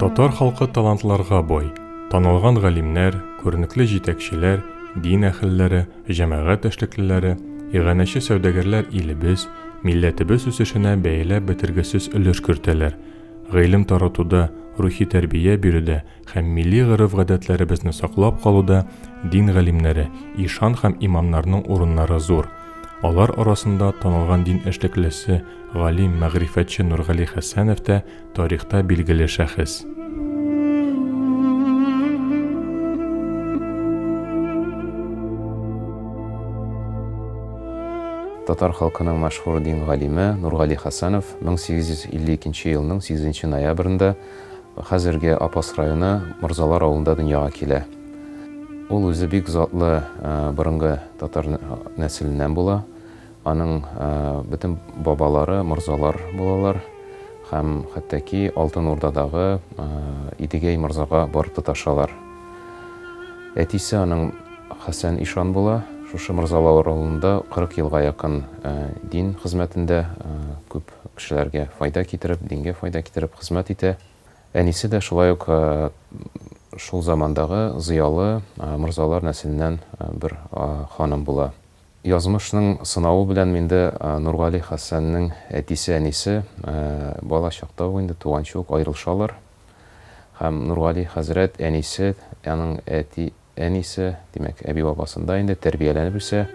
Татар халкы талантларга бай. Танылган галимнәр, күренекле җитәкчеләр, дин әһелләре, җәмәгать эшлеклеләре, иганәче сәүдәгәрләр илебез, милләтебез үсешенә бәяләп бетергесез өлеш кертәләр. Гыйлем таратуда, рухи тәрбия бирүдә, һәм милли гореф-гадәтләребезне саклап калуда дин галимнәре, ишан һәм имамнарның урыннары зур. Алар арасында танылган дин эшлеклесе, галим, мәгърифәтче Нургали Хәсәнов та тарихта билгеле шәхес. Татар халкының мәшһүр дин галиме Нургали Хәсәнов 1852 елның 8 ноябрендә Хәзерге Апас районы Морзалар авылында дөньяга килә. Ул үзе бик затлы борынгы татар нәселеннән була. Аның бөтен бабалары морзалар булалар һәм хәтта ки Алтын Урдадагы Идегәй морзага барып тоташалар. Әтисе аның Хәсән ишан була. Шушы Морзалар авылында 40 елга якын дин хезмәтендә күп Кешеләргә файда китереп, дингә файда китереп хезмәт итә. Әнисе дә шулай ук шул замандагы зыялы морзалар нәселеннән бер ханым була. Язмышның сынавы белән инде Нургали Хәсәннең әтисе-әнисе бала чакта ук инде, туганчы ук аерылышалар. Һәм Нургали хәзрәт әнисе, аның әти, Әнисе, димәк, әби-бабасында инде тәрбияләнеп үсә.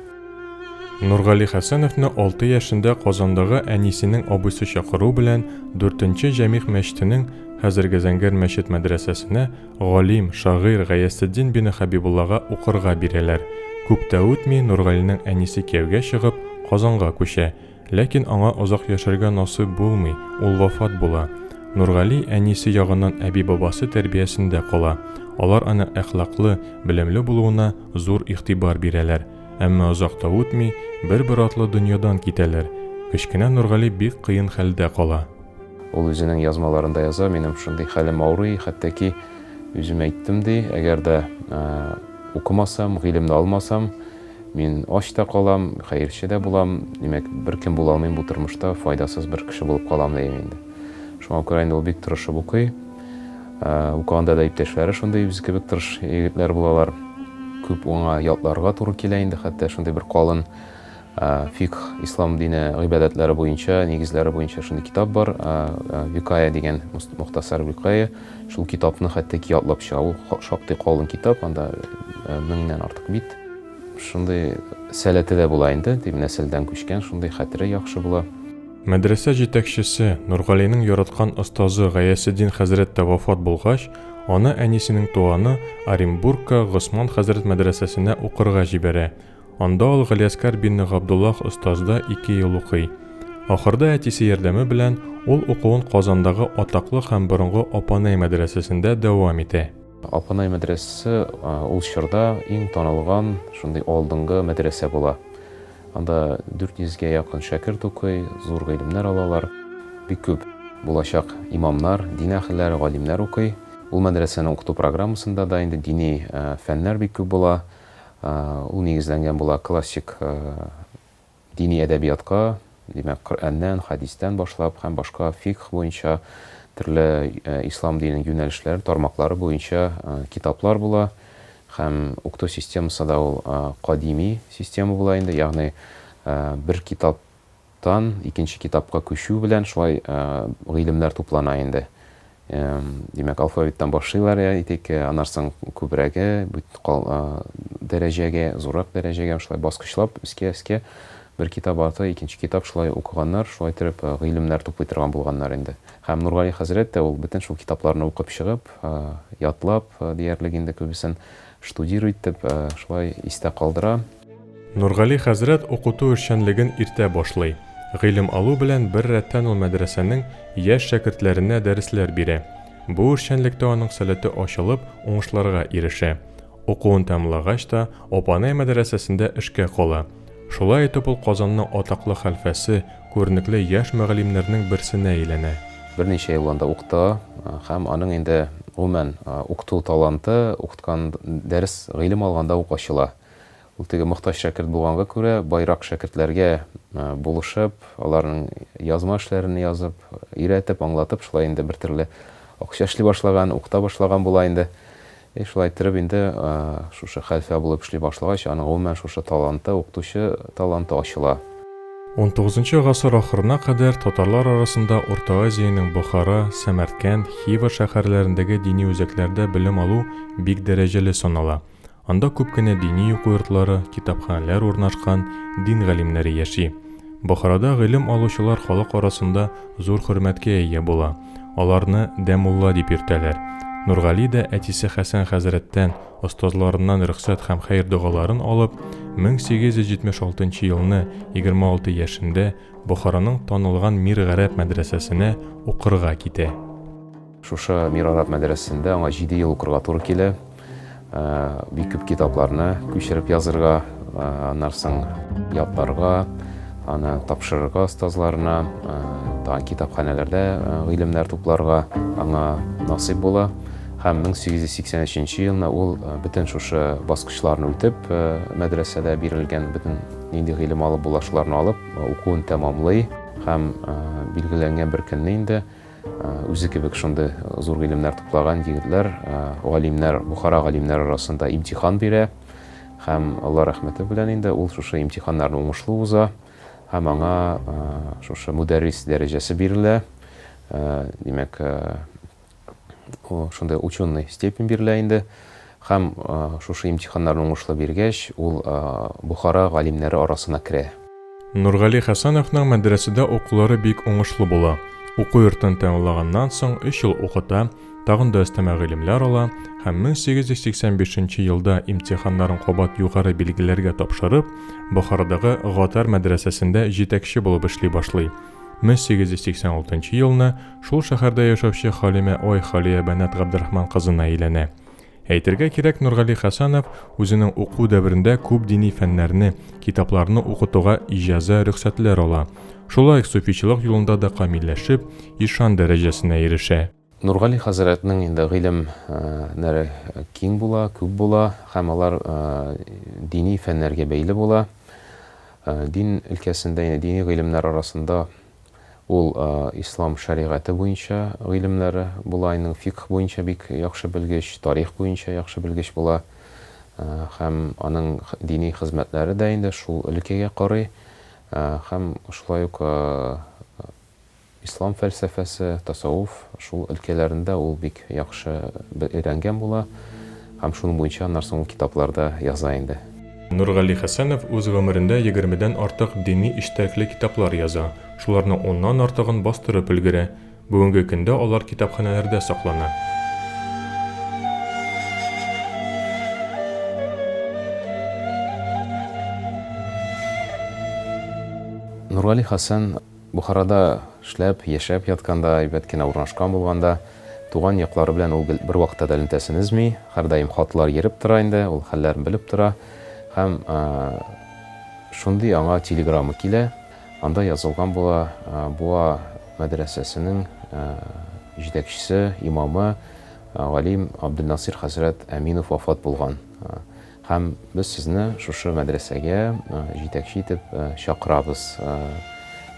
Нургали Хәсәновны алты яшендә Казандагы әнисенең абыйсы чакыруы белән Дүртенче Җәмигъ мәчетенең, хәзерге Зәңгәр мәчет мәдрәсәсенә, галим, шагыйрь Гаясетдин бине Хәбибуллага укырга бирәләр. Күп тә үтми, Нургалинең әнисе кияүгә чыгып, Казанга күчә. Ләкин аңа озак яшәргә насыйп булмый, ул вафат була. Нургали әнисе ягыннан әби-бабасы тәрбиясендә кала. Алар аның әхлаклы, белемле булуына зур игътибар бирәләр. Әмма озак та үтми, бер-бер артлы дөньядан китәләр. Кечкенә Нургали бик кыен хәлдә кала. Ул үзенең язмаларында яза, Минем шундый хәлем авырый, хәтта ки, үзем әйттем, ди, әгәр дә укымасам, гыйлемне алмасам, Мин ач та калам, хәерче дә булам, димәк, беркем була алмыйм бу тормышта, файдасыз бер кеше булып калам дим инде. Шуңа күрә инде ул бик тырышып укый. Ә, укыганда да иптәшләре шундый үзе кебек тырыш егетләр булалар. Күп уңа ятларга туры килә инде, хәтта шундый бер калын фикх, ислам дине гыйбадәтләре буенча, нигезләре буенча шундый китап бар, Викая дигән, мухтасар Викая. Шул китапны хәтта ки ятлап чыга. Ул шактый калын китап, анда э, меңнән артык бит. Шундый сәләте дә була инде, дип нәселдән күчкән, шундый хәтере яхшы була. Мәдрәсә җитәкчесе, Нургалинең яраткан остазы Гаясетдин хәзрәт тә вафат булгач, аны әнисенең туганы Оренбургка Госман хәзрәт мәдрәсәсенә укырга җибәрә. Анда ул Галиәскар бинне Габдуллах остазда ике ел укый. Ахырда әтисе ярдәме белән ул укуын Казандагы атаклы һәм борынгы Апанай мәдрәсәсендә дәвам итә. Апанай мәдрәсәсе ул чорда иң танылган шундый алдынгы мәдрәсә була. Анда 400 гә якын шәкерт укый, зур гыйлемнәр алалар. Бик күп булачак имамнар, дин әһелләре, галимнәр укый. Ул мәдрәсәнең укыту программасында да инде дини фәннәр бик күп була. Ул нигезләнгән була классик дини әдәбиятка, димәк, Коръәннән, хәдистән башлап һәм башка фикх буенча төрле ислам диненең юнәлешләре, тармаклары буенча китаплар була һәм укыту системасы да ул кадими система була инде, ягъни бер китап тан икенче китапка күчү белән шулай гыйлемнәр туплана инде. Димәк, алфавиттан башлыйлар, я итик, аннан соң күбрәге, дәрәҗәгә, зуррак дәрәҗәгә шулай баскычлап, өскә-өскә бер китап арты икенче китап шулай укыганнар, шулай итеп гыйлемнәр туплый торган булганнар инде. Һәм Нургали хәзрәт тә ул бөтен шул китапларны укып чыгып, ятлап диярлек инде күбесен, штудир итеп, шулай истә калдыра. Нургали хәзрәт укыту эшчәнлеген иртә башлый. Гыйлем алу белән бер рәттән ул мәдрәсәнең яшь шәкертләренә дәресләр бирә. Бу эшчәнлектә аның сәләте ачылып, уңышларга ирешә. Укуын тәмамлагач та, Опанай мәдрәсәсендә эшкә кала. Шулай итеп ул Казанның атаклы хәлфәсе, күренекле яшь мөгаллимнәрнең берсенә әйләнә. Берничә ел анда укыта һәм аның инде, гомумән, укыту таланты укыткан дәрес, гыйлем алганда ук ачыла. Ул теге мохтаҗ шәкерт булганга күрә, баерак шәкертләргә булышып, аларның язма эшләрен язып, өйрәтеп, аңлатып, шулай инде бер төрле акча эшли башлаган, укыта башлаган була инде. И шулай иттереп инде шушы хәлфә булып эшли башлагач, аның гомумән шушы таланты, укытучы таланты ачыла. Унтугызынчы гасыр ахырына кадәр татарлар арасында Урта Азиянең Бохара, Сәмәркәнд, Хива шәһәрләрендәге дини үзәкләрдә белем алу бик дәрәҗәле санала. Анда күп кенә дини уку йортлары, китапханәләр урнашкан, дин галимнәре яши. Бохарада гыйлем алучылар халык арасында зур хөрмәткә ия була, аларны дә мулла дип йөртәләр. Нургали дә әтисе Хәсән хәзрәттән, остазларыннан рөхсәт һәм хәер-догаларын алып, 1876 нчы елны, 26 яшендә, Бохараның танылган Мир гарәп мәдрәсәсенә укырга китә. Шушы Мир Араб мәдрәсәсендә аңа җиде ел укырга туры килә. Бик күп китапларны күчереп язырга, аннан соң ятларга, аны тапшырырга остазларына, тагын китапханәләрдә гыйлемнәр тупларга аңа насыйп була. Һәм 1883 елны ул бөтен шушы баскычларны үтеп, мәдрәсәдә бирелгән бөтен нинди гыйлем алып була, шуларны алып, укуын тәмамлый һәм билгеләнгән бер көнне инде Үзе кебек шундый зур гыйлемнәр туплаган егетләр, галимнәр, Бухара галимнәре арасында имтихан бирә. Һәм Алла рәхмәте белән инде ул шушы имтиханнарны уңышлы уза һәм аңа шушы мөдәррис дәрәҗәсе бирелә. Димәк, шундый ученый степень бирелә инде. Һәм шушы имтиханнарны уңышлы биргәч, ул Бохара галимнәре арасына керә. Нургали Хәсәновның мәдрәсәдә укулары бик уңышлы була. Уку йортын тәмамлаганнан соң өч ел укыта, тагын да өстәмә гыйлемләр ала һәм 1885 нче елда имтиханнарын кабат югары билгеләргә тапшырып, Бохарадагы Гатар мәдрәсәсендә җитәкче булып эшли башлый. 1886 елны шул шәһәрдә яшәүче Халимә I Халиябәнат Габдрахман кызына өйләнә. Әйтергә кирәк, Нургали Хәсәнов үзенең уку дәверендә күп дини фәннәрне, китапларны укытуга иҗазә, рөхсәтләр ала. Шулай ук суфичылык юлында да камилләшеп, ишан дәрәҗәсенә ирешә. Нургали хәзрәтнең инде гыйлем нәре киң була, күп була һәм алар дини фәннәргә бәйле була. Дин өлкәсендә, дини гыйлемнәр арасында Ул ислам шәригате буенча гыйлемнәре була, аның фикһ буенча бик яхшы белгеч, тарих буенча яхшы белгеч була. Һәм аның дини хезмәтләре дә инде шул өлкәгә карый. Һәм шулай ук ислам фәлсәфәсе, тасавуф, шул өлкәләрендә ул бик яхшы бе өйрәнгән була һәм шуның буенча аннан соң ул китапларда яза инде. Нургали Хәсәнов үз гомерендә егермедән артык дини эчтәлекле китаплар яза, шуларның уннан артыгын бастырып өлгерә. Бүгенге көндә алар китапханәләрдә саклана. Нургали Хәсән. Бохарада эшләп, яшәп ятканда, әйбәт кенә урнашкан булганда, туган яклары белән ул гел бервакытта да элемтәсен өзми, һәрдаим хатлар йөреп тора инде, ул хәлләрен белеп тора. Һәм шундый аңа телеграмма килә, анда язылган була, Буа мәдрәсәсенең җитәкчесе, имамы, галим Абделнасыйр хәзрәт Әминов вафат булган. Һәм без сезне шушы мәдрәсәгә җитәкче итеп чакырабыз,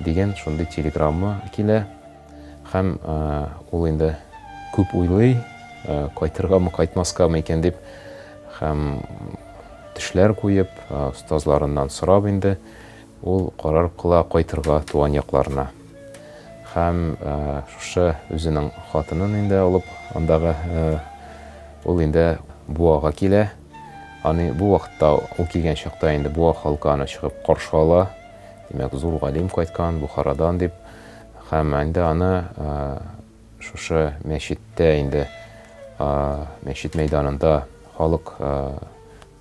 дигән шундый телеграмма килә. Һәм ул инде күп уйлый, кайтыргамы, кайтмаскамы икән дип, һәм төшләр куеп, остазларыннан сорап инде, Ул карар кыла кайтырга туган якларына. Һәм шушы үзенең хатынын инде алып андагы ул инде Буага килә. Аны бу вакытта ул килгән чакта инде Буа халкы аны чыгып каршы ала. Димәк, зур галим кайткан Бухарадан дип. Һәм инде аны шушы мәчеттә инде мәчет мәйданында халык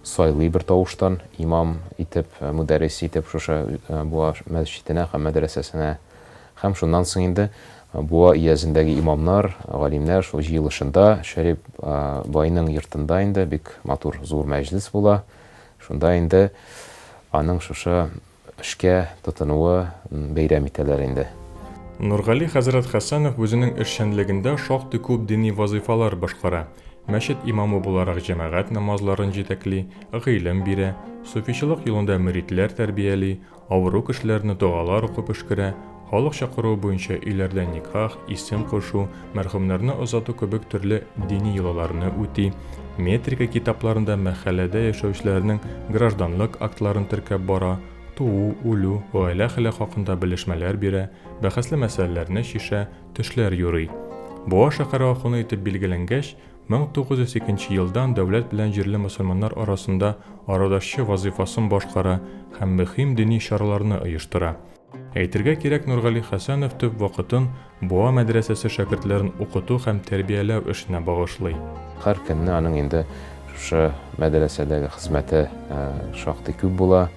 Сайлый бертавыштан имам итеп, мөдәррис итеп шушы Буа мәсҗиденә һәм мәдрәсәсенә һәм шуннан соң инде Буа өязендәге имамнар, галимнәр шул җыелышында, Шәрип байның йортында инде бик матур зур мәҗлес була, шунда инде аның шушы эшкә тотынуы бәйрәм итәләр инде. Нургали хәзрәт Хәсәнов үзенең эшчәнлегендә шактый күп дини вазыйфалар башкара, мәчет имамы буларак җәмәгать намазларын җитәкли, гыйлем бирә, суфичылык юлында мөридләр тәрбияли, авыру кешеләрне догалар укып өшкерә, Халык чакыруы буенча өйләрдә никах, исем кушу, мәрхүмнәрне озату кебек төрле дини йолаларны үти, метрика китапларында мәхәлләдә яшәүчеләрнең гражданлык актларын теркәп бара, туу, үлү, гаилә хәле хакында белешмәләр бирә, бәхәсле мәсьәләләрне чишә, төшләр юрый. Буа шәһәре ахуны итеп билгеләнгәч, 1902 елдан дәүләт белән җирле мөселманнар арасында арадашчы вазыйфасын башкара һәм мөһим дини чараларны оештыра. Әйтергә кирәк, Нургали Хәсәнов төп вакытын Буа мәдрәсәсе шәкертләрен укыту һәм тәрбияләү эшенә багышлый. Һәр көнне аның инде шушы мәдрәсәдәге хезмәте шактый күп була.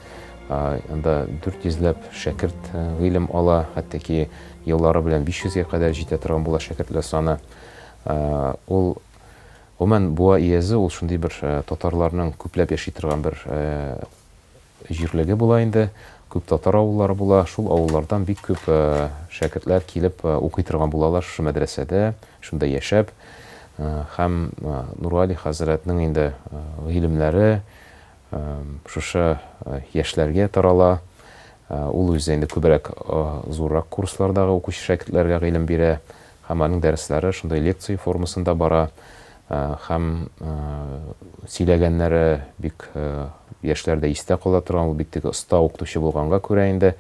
Анда дүрт йөзләп шәкерт гыйлем ала, хәтта ки еллары белән биш йөзгә кадәр җитә торган була шәкертләр саны. Ул, гомумән, Буа өязе, ул шундый бер татарларның күпләп яши торган бер җирлеге була инде, күп татар авыллары була, шул авыллардан бик күп шәкертләр килеп укый торган булалар шушы мәдрәсәдә, шунда яшәп. Һәм Нургали хәзрәтнең инде гыйлемнәре шушы яшьләргә тарала. Ул үзе инде күбрәк зуррак курслардагы укучы шәкертләргә гыйлем бирә, Һәм аның дәресләре шундый лекция формасында бара. Һәм сөйләгәннәре бик яшьләр дә истә кала торган. Ул бит теге оста укытучы булганга күрә инде,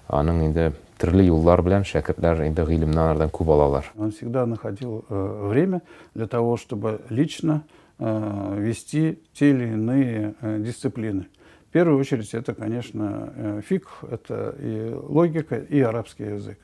аның инде төрле юллар белән шәкертләр инде гыйлемне анардан күп алалар. Он всегда находил время для того, чтобы лично вести те или иные дисциплины. В первую очередь, это, конечно, фикх, это и логика, и арабский язык.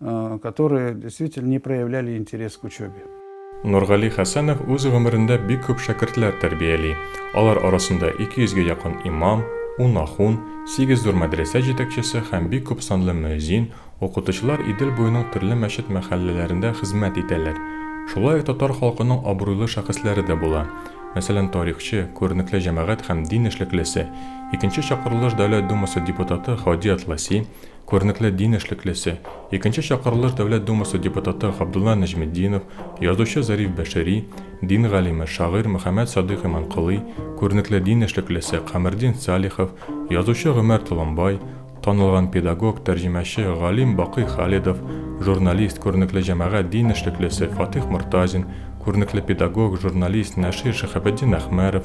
э, которые действительно не проявляли интерес к учебе. Нургали Хәсәнов үз гомерендә бик күп шәкертләр тәрбияли. Алар арасында 200 гә якын имам, 10 ахун, 8 зур мәдрәсә җитәкчесе һәм бик күп санлы мөәзин, укытучылар Идел буеның төрле мәчет-мәхәлләләрендә хезмәт итәләр. Шулай ук татар халкының абруйлы шәхесләре дә була. Мәсәлән, тарихчы, күренекле җәмәгать һәм дин эшлеклесе, икенче чакырылыш Дәүләт Думасы депутаты Хади Атласи, Күренекле дин эшлеклесе, икенче чакырылыш Дәүләт Думасы депутаты Габдулла Нәҗметдинов, язучы Зариф Бәшири, дин галиме, шагыйрь Мөхәммәт Садыйк Иманколый, күренекле дин эшлеклесе Камердин Салихов, язучы Гомәр Толымбай, танылган педагог, тәрҗемәче, галим Бакый Халидов, журналист, күренекле җәмәгать дин эшлеклесе Фатыйх Мортазин, күренекле педагог, журналист, нәшир Шиһабетдин Әхмәров,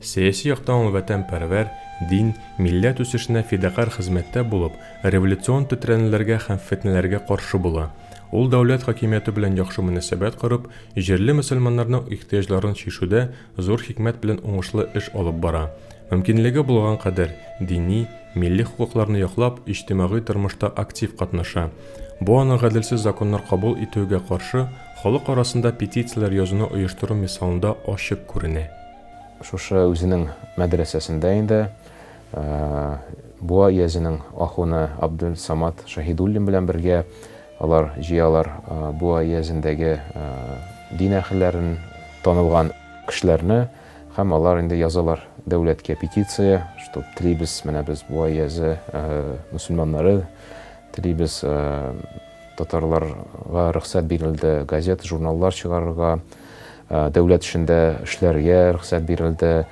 Сәяси яктан ул вәтәнпәрвәр, дин, милләт үсешенә фидакарь хезмәттә булып, революцион тетрәнүләргә һәм фетнәләргә каршы була. Ул дәүләт хакимияте белән яхшы мөнәсәбәт корып, җирле мөселманнарның ихтыяҗларын чишүдә зур хикмәт белән уңышлы эш алып бара. Мөмкинлеге булган кадәр, дини, милли хокукларны яклап, иҗтимагый тормышта актив катнаша. Бу аның гаделсез законнар кабул итүегә каршы халык арасында петицияләр язуны оештыру мисалында ачык күренә. Шушы үзенең мәдрәсәсендә инде Буа өязенең ахуны Абделсамат Шаһидуллин белән бергә алар җыялар Буа өязендәге дин әһелләрен, танылган кешеләрне һәм алар инде язалар дәүләткә петиция, что телибез, менә без Буа өязе мөселманнары, телибез, Татарларга рөхсәт бирелде газета, журналлар чыгарырга, дәүләт эшендә эшләргә рөхсәт бирелде,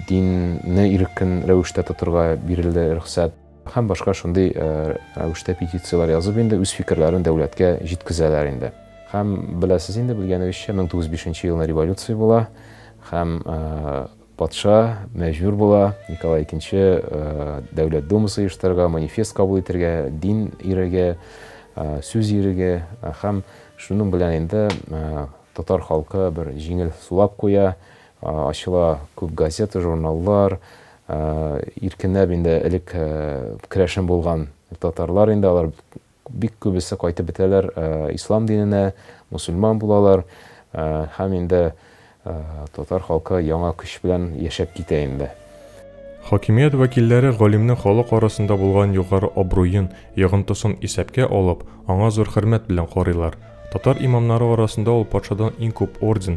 динне иркен рәвештә тотырга бирелде рөхсәт. Һәм башка шундый рәвештә петицияләр язып инде үз фикерләрен дәүләткә җиткезәләр инде. Һәм беләсез инде, белгәнегезчә, 1905 елны революция була һәм Патша мәҗбүр була Николай икенче Дәүләт Думасы оештырырга, манифест кабул итергә, дин иреге, сүз иреге һәм шуның белән инде татар халкы бер җиңел сулап куя, ачыла күп газета, журналлар, иркенләп инде элек керәшен булган татарлар инде алар Бик күбесе кайтып бетәләр ислам диненә, мусульман булалар һәм инде татар халкы яңа көч белән яшәп китә инде. Хакимият вәкилләре галимнең халык арасында булган югары абруен, йогынтысын исәпкә алып, аңа зур хөрмәт белән карыйлар. Татар имамнары арасында ул патшадан иң күп орден,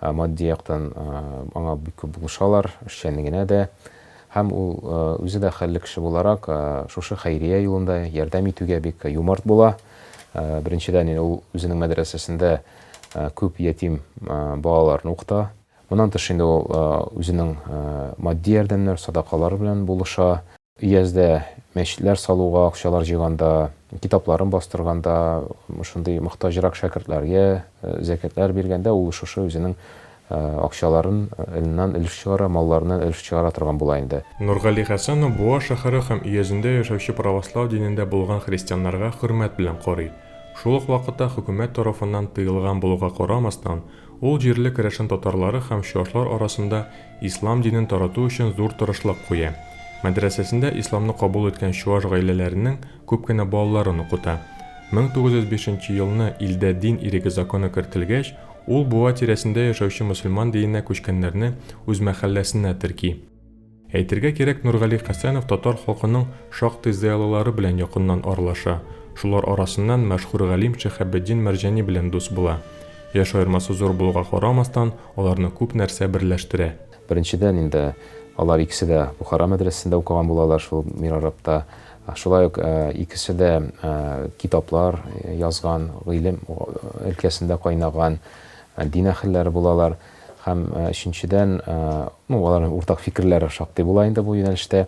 Ә матди яктан аңа бик күп булышалар, эшчәнлегенә дә. Һәм ул үзе дә хәлле кеше буларак, шушы хәйрия юлында ярдәм итүгә бик юмарт була. Беренчедән, ул үзенең мәдрәсәсендә күп ятим балаларны укыта. Моннан тыш, инде ул үзенең матди ярдәмнәр, садакалар белән булыша. Өяздә мәчетләр салуга акчалар җыйганда, китапларын бастырганда, шундый мохтаҗрак шәкертләргә зәкятләр биргәндә ул шушы үзенең акчаларын ннан өлеш чыгара, малларыннан өлеш чыгара торган була инде. Нургали Хәсәнов Буа шәһәре һәм өязендә яшәүче правослау динендә булган христианнарга хөрмәт белән карый. Шул ук вакытта хөкүмәт тарафыннан тыелган булуга карамастан, ул җирле керәшен татарлары һәм чуашлар арасында Ислам динен тарату өчен зур тырышлык куя. Мәдрәсәсендә исламны кабул иткән чуаш гаиләләренең күп кенә балаларын укыта. 1905 нче елны илдә дин иреге законы кертелгәч, ул Буа тирәсендә яшәүче мөселман диненә күчкәннәрне үз мәхәлләсенә терки. Әйтергә кирәк, Нургали Хәсәнов татар халкының шактый зыялылары белән якыннан аралаша, шулар арасыннан мәшһүр галим Шиһабетдин Мәрҗани белән дус була. Яшь аермасы зур булуга карамастан, Аларны күп нәрсә берләштерә. Беренчедән инде, алар икесе дә Бухара мәдрәсәсендә укыган булалар шул Мирарабта. Шулай ук икесе дә китаплар язган, гыйлем өлкәсендә кайнаган дин әһелләре булалар. Һәм өченчедән, ну, аларның уртак фикерләре шактый була инде бу юнәлештә,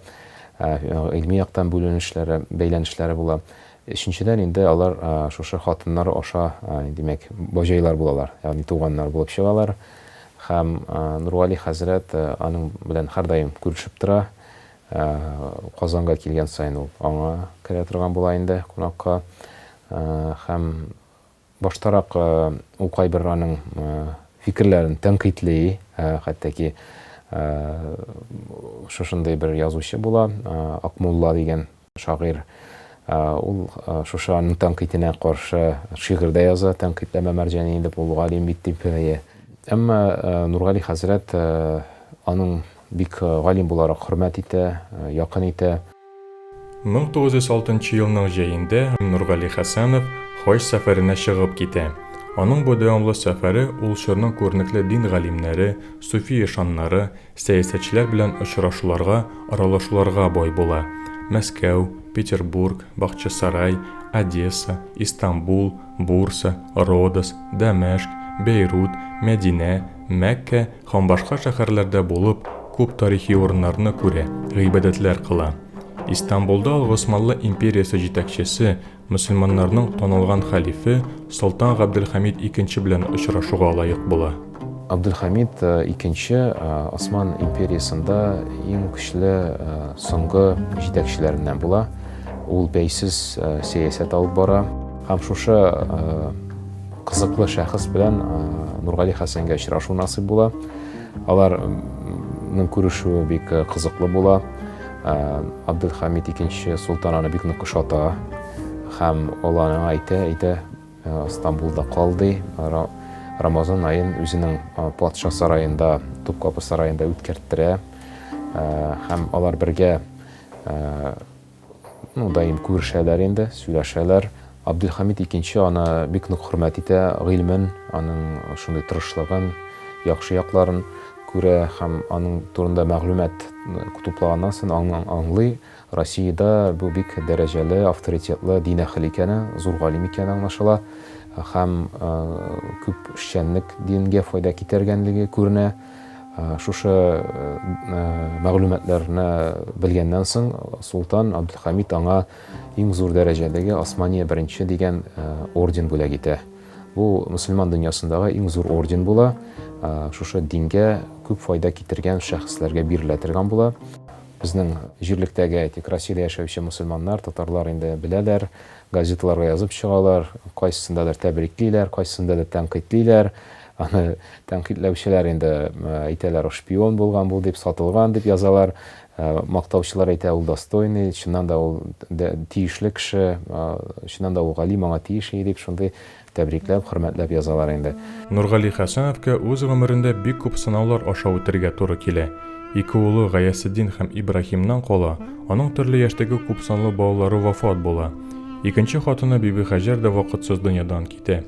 гыйльми яктан бүленешләре, бәйләнешләре була. Өченчедән инде алар шушы хатыннар аша, димәк, баҗайлар булалар, ягъни туганнар булып чыгалар. Һәм Нургали хәзрәт аның белән һәрдаим күрешеп тора. Казанга килгән саен ул аңа керә торган була инде кунакка. Һәм Баштарак ул кайбер аның фикерләрен тәнкыйтьли, хәтта ки шушындый бер язучы була, Акмулла дигән шагыйрь. Ул шушы аның тәнкыйтенә каршы шигырь дә яза, тәнкыйтьләмә мәрҗәни дип, ул галим бит дип. Әмма Нургали хәзрәт аның Бик галим буларак хөрмәт итә, якын итә. 1906 елның җәендә Нургали Хәсәнов хаҗ сәфәренә чыгып китә. Аның бу дәвамлы сәфәре ул чорның күренекле дин галимнәре, суфи ишаннары, сәясәтчеләр белән очрашуларга, аралашуларга бай була. Мәскәү, Петербург, Бахчисарай, Одесса, Истанбул, Бурса, Родос, Дәмәшк, Бәйрут, Мәдинә, Мәккә һәм башка шәһәрләрдә булып, күп тарихи урыннарны күрә, гыйбадәтләр кыла. Истанбулда ул Госманлы империясе җитәкчесе, мөселманнарның танылган хәлифе Солтан Габделхәмид икенче белән очрашуга лаек була. Абделхәмид икенче Осман империясендә иң көчле соңгы җитәкчеләреннән була. Ул бәйсез сәясәт алып бара. Һәм шушы Кызыклы шәхес белән Нургали Хәсәнгә очрашу насыйп була. Аларның күрешүе бик кызыклы була. Абдулхамид икенче солтан аны бик нык ошата һәм ул аңа әйтә, әйтә, Стамбулда кал ди. Рамазан аен үзенең патша сараенда, Тупкапы сараенда үткәрттерә һәм алар бергә Ну, даим күрешәләр инде, сөйләшәләр. Абделхамид икенче аны бик нык хөрмәт итә, гыйлемен, аның шундый тырышлыгын, яхшы якларын күрә һәм аның турында мәгълүмат туплаганнан сон аңлый, Россиядә бу бик дәрәҗәле, авторитетлы дин әһеле икәне, зур галим икәне аңлашыла һәм күп эшчәнлек дингә файда китергәнлеге күренә. Шушы мәгълүматларны белгәннән соң, солтан Абделхамид аңа иң зур дәрәҗәдәге Османия беренче дигән орден бүләк итә. Бу мөселман дөньясындагы иң зур орден була. Шушы дингә күп файда китергән шәхесләргә бирелә торган була. Безнең җирлектәге, әйтик, Россиядә яшәүче мөселманнар, татарлар инде беләләр, газеталарга язып чыгалар, кайсысындадыр тәбриклиләр, кайсысында да тәнкыйтьлиләр. Аны тәнкыйтьләүчеләр инде әйтәләр, ул шпион булган бу дип, сатылган дип язалар. Мактаучылар әйтә, ул достойный, чыннан да ул тиешле кеше, чыннан да ул галим, аңа тиеш и дип, шундый тәбрикләп, хөрмәтләп язалар инде. Нургали Хәсәновка үз гомерендә бик күп сынаулар аша үтәргә туры килә. Ике улы Гаясетдин һәм Ибраһимнан кала, аның төрле яшьтәге күпсанлы балалары вафат була. Икенче хатыны Бибихәҗәр дә вакытсыз дөньядан китә.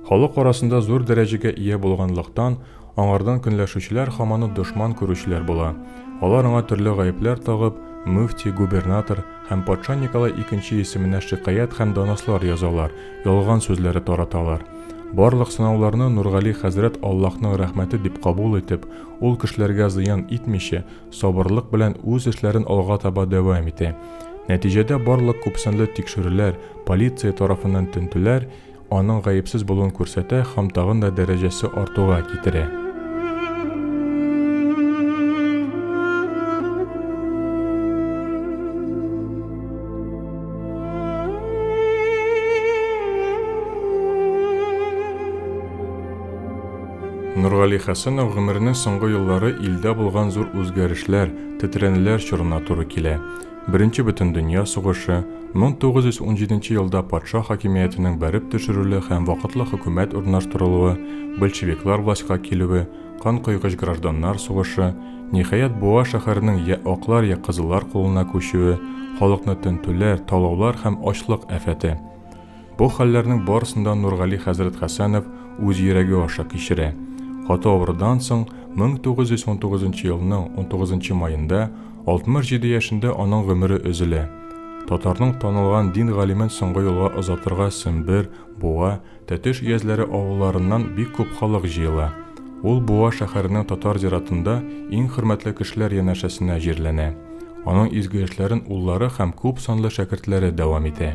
Халык арасында зур дәрәҗәгә ия булганлыктан, аңардан көнләшүчеләр хаманы дошман күрүчеләр була. Алар аңа төрле гаепләр тагып, мөфти, губернатор һәм патша Николай икенче исеменә шикаять һәм донослар язалар, ялган сүзләре тараталар. Барлык сынауларны Нургали хәзрәт Аллаһның рәхмәте дип кабул итеп, ул кешеләргә зыян итмичә, сабырлык белән үз эшләрен алга таба дәвам итә. Нәтиҗәдә барлык күпсанлы тикшерүләр, полиция тарафыннан тентүләр Аның гаепсез булуын күрсәтә һәм тагын да дәрәҗәсе артуга китерә. Нургали Хәсәнов гомеренең соңгы еллары илдә булган зур үзгәрешләр, тетрәнүләр чорына туры килә. Беренче бөтендөнья сугышы, 1917 елда патша хакимиятенең бәреп төшерүле һәм вакытлы хөкүмәт урнаштырылуы, большевиклар властька килүе, кан койгыч гражданнар сугышы, ниһаять, Буа шәһәренең йә аклар, йә кызыллар кулына күчүе, халыкны тентүләр, талаулар һәм ачлык афәте. Бу хәлләрнең барысын да Нургали хәзрәт Хәсәнов үз йөрәге аша кичерә. Каты авырудан соң 1919 елның 19 маенда 67 яшендә аның гомере өзелә. Татарның танылган дин галимен соңгы юлга озатырга Сембер, Буа, Тәтеш өязләре авылларыннан бик күп халык җыела. Ул Буа шәһәренең татар зиратында иң хөрмәтле кешеләр янәшәсенә җирләнә. Аның изге эшләрен уллары һәм күп санлы шәкертләре дәвам итә.